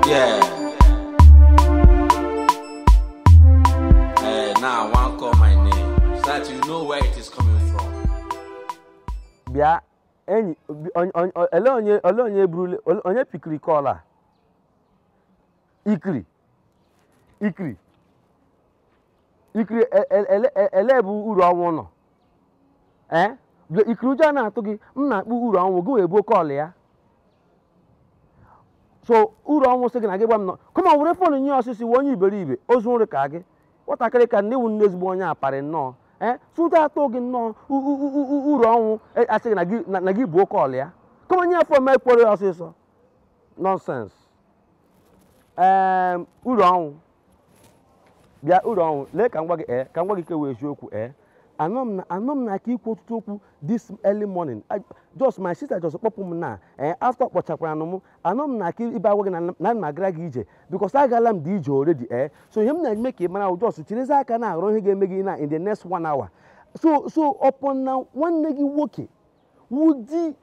Yeah. Eh, now I want call my name so that you know where it is coming from. bịa enyi bi- onye- onye- olee onye olee onye burule onye pikiri kọl a ikiri ikiri ikiri e- e- ele- e- elee ebe uru ọnwụ nọ ee bịa ikiri ụjọ na-atụ gị m na-akpọ uru ọnwụ gị wee buo kọl ya so uru ọnwụ sị gị na gị gwa m nọ kama were fon nye ọsịsọ ị wụ onye iberibe ozu nri ka gị nwatakịrị ka nne wụ nnọọ ezigbo onye aparị nnọọ ee so ụjọ atụ gị nnọọ u- u- u- u- uru ọnwụ e- asị gị na gị- na- na gị buo kọl ya kama nye ya fon m kwuoro ya ọsịsọ nọnsens ee uru ọnwụ bịa uru ọnwụ lee ka m gwa gị ee ka m gwa gị nke wụ eziokwu ee anọ m na anọ m na aka ikwu ọtụtụ okwu this early morning I- just my sister just kpọpụ m na ee after kpọchakwara m anọ m na aka ịbịa agwa gị na na m agara gị ije because agala m dị ije already ee so ihe m na-eme ka ị mara ahụ just chirizi aka na aghọrọ ihe ga-eme gị na in the next one hour so so upon na nwanne gị nwoke wụ di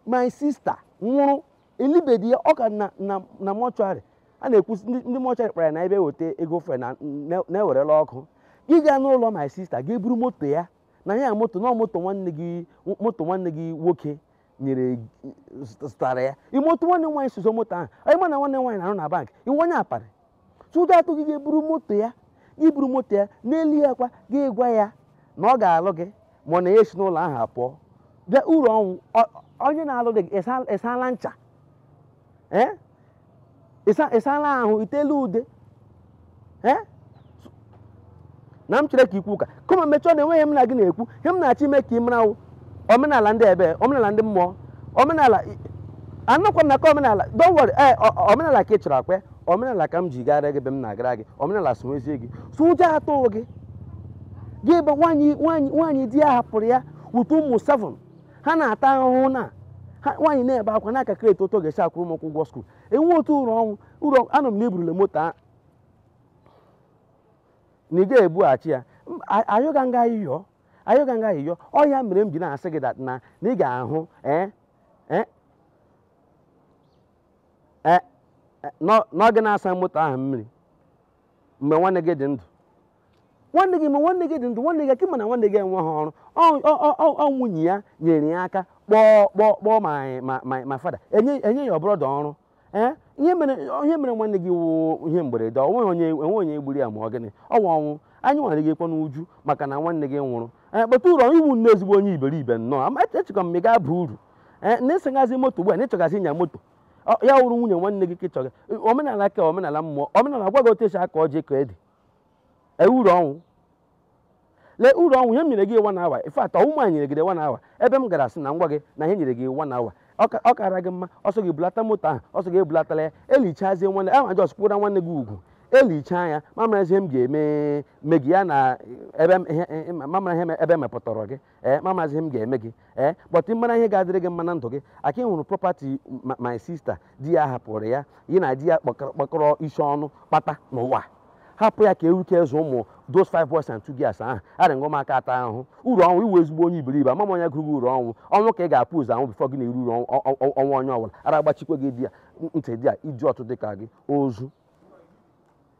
my sister nwụrụ elibedi ya ọ ka nọ na na mọchụarị a na-ekwusi ndị ndị mọchụarị kpara ya na ebe eweta ego fre na na- na i werela ụkwụ gị gaa n'ụlọ my sister gị eburu moto ya na ya moto na moto nwanne gị moto nwanne gị nwoke nyere gị- zụtara ya imoto nwanne m nwaanyị sọsọ moto ahụ ị ma na nwanne m nwaanyị na-arụ na bank ị wụ onye aparị So ụjọ atụ gị gị eburu moto ya gị buru moto ya n'elu ya kwa gị gwa ya na ọ ga-alụ gị ma ọ na ya esi n'ụlọ ahụ apụọ bịa uru ọnwụ ọ- onye na-alụdị gị ịsa- ị sala ncha ee ịsa- ị sala ahụ i tela ude ee na m chere ka i kwuo ụka kama mechọọ na enweghị ihe m na gị na-ekwu ihe m na-achọ ime ka ị mara wụ omenala ndị ebe omenala ndị mmụọ omenala anọkwa m na nke omenala don't worry ee o- o- omenala ka ị chọrọ akpa ya. omenala ka m ji gara gị ebe m na-agara gị omenala so ezie gị so ụjọ atụghị gị gị ebe nwaanyị nwaanyị nwaanyị di ya hapụrụ ya with ụmụ seven ha na-ata ahụhụ na ha nwaanyị na-ebe akwa na-calculate otu ọ ga-esi akwụrụ m ụkwụ ụgwọ skuul enwe otu uru ọnwụ uru ọnwụ na eburule moto a na ị ga-ebughachi ya M- a- ayọgha m gị ayịyọ ayọgha m gị ayịyọ ọ ya mere m ji na-asị gị that na na ị ga-ahụ eh, eh, eh, eh, n'ọ- n'ọ gị na-asa moto ahụ mmiri mgbe nwanne gị dị ndụ nwanne gị ma nwanne gị dị ndụ nwanne gị ka ị ma na nwanne gị enweghị ọrụ Ọ- ọ- ọ- ọ- ọ nwunye ya nyere ya aka kpọọ kpọọ kpọọ my my my my father enye enye your brother ọrụ ee ihe mere ihe mere nwanne gị wụ ihe mberede ọ nweghị onye enweghị onye gburu ya ma ọ gịnị ọ wụ ọnwụ anyị nwa nọgakwa n'uju maka na nwanne gị nwụrụ but uru ọnwụ ị wụ nnọọ ezigbo onye iberibe nnọọ ama echekwa m ị ga-aba uru ee na ị sịgazi moto ugbu a na ị chọgazi ịnya moto ọ- ya wụrụ nwunye nwanne gị ka ị chọga omenala ka omenala mmụọ omenala gwa gị otu esi akọ ji akọ ede ee uru ọnwụ lee uru ọnwụ ihe m nyere gị one hour in fact ọ wụ m nyere gị one hour ebe m gara sị na m gwa gị na ihe enyere gị one hour ọ ka- ọ kara gị mma ọ sọ gị bulata moto ahụ ọ sọ gị ebulatala ya elichazie nwanne ahụ just kwụra nwanne gị ugwu elichaa ya m amara ihe m ga-eme mee gị ya na ebe m- ihe- ihe- m amara ihe m- ebe emepụtara gị ee m amazi ihe m ga-eme gị but mara ihe ga-adịrị gị mma na ndụ gị aka gị eru property my sister di ya hapụrụ ya ya na di ya kpakọrọ isi ọnụ kpata n'ụwa hapụ ya ka enwee ike zụọ ụmụ those five boys and two girls ahụ I don't want ka ha taa ahụhụ uru ọnwụ ị wụ ezigbo onye iberibe ama m onye gụrụ gị uru ọnwụ ọnwụ ka ị ga-ebu ụzọ anwụ before gị na-eri uru ọnwụ onye ọbụla ara agbachikwa gị ntị there idiot dị ka gị ozu